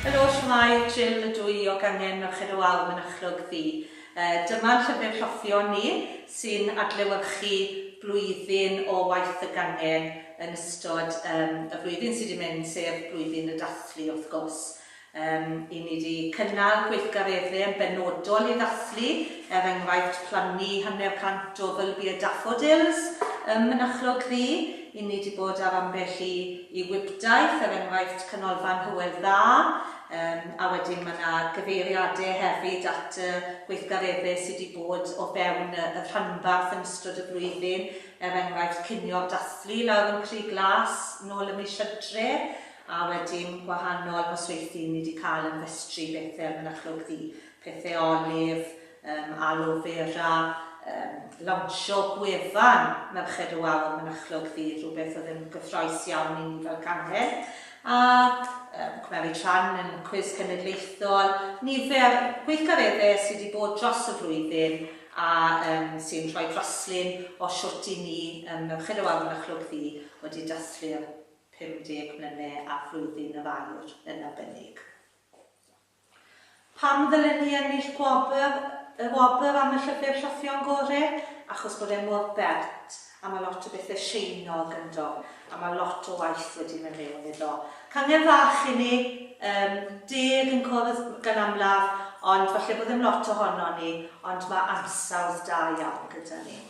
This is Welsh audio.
Yr oll mae Jill y dwy o gangen Merched y Wawr yn achlog ddi. Dyma llyfr rhoffion ni sy'n adlewyrchu blwyddyn o waith y gangen yn ystod y flwyddyn sy 'di mynd, sef blwyddyn y dathlu wrth gwrs. I ni 'di cynnal gweithgareddau yn benodol i ddathlu, er enghraifft plannu hanner cant o fylbiau daffodils ym Mynachlog Ddu, i ni 'di bod ar ambell i Y Wibdaith, er enghraifft, Canolfan Hywel Dda, yym, a wedyn ma' 'na gyfeiriade hefyd at y gweithgaredde sy' 'di bod o fewn y y rhanbarth yn ystod y flwyddyn, er enghraifft cinio'r dathlu lawr yn Crug Glas nôl ym mis Hydref, a wedyn gwahanol nosweithdy ni 'di ca'l yn Festri Bethel Mynachlog Ddu. Pethau Olive, um, Aloe Vera, um, lawnsio gwefan Merched y Wawr Mynachlog fydd rhywbeth oedd yn gyffroes iawn i ni fel cangen, a um, cymryd rhan yn cwis cenedlaethol, nifer gweithgareddau sydd wedi bod dros y flwyddyn a um, sy'n rhoi draslun o siwt i ni um, Merched y Wawr Mynachlog ddi wedi dathlu'r 50 mlynedd a flwyddyn y fair yn arbennig. Pam ddylen ni ennill gwobr, y wobr am y llyfr Rhyffion Gore? Achos bod e mor bert, a mae lot o bethe Sieiniog ynddo, a mae lot o waith wedi mynd mewn iddo. Cangen fach i ni, yym, deg yn cwrdd gan amlaf, ond falle bod ddim lot ohonon ni, ond mae ansawdd da iawn gyda ni.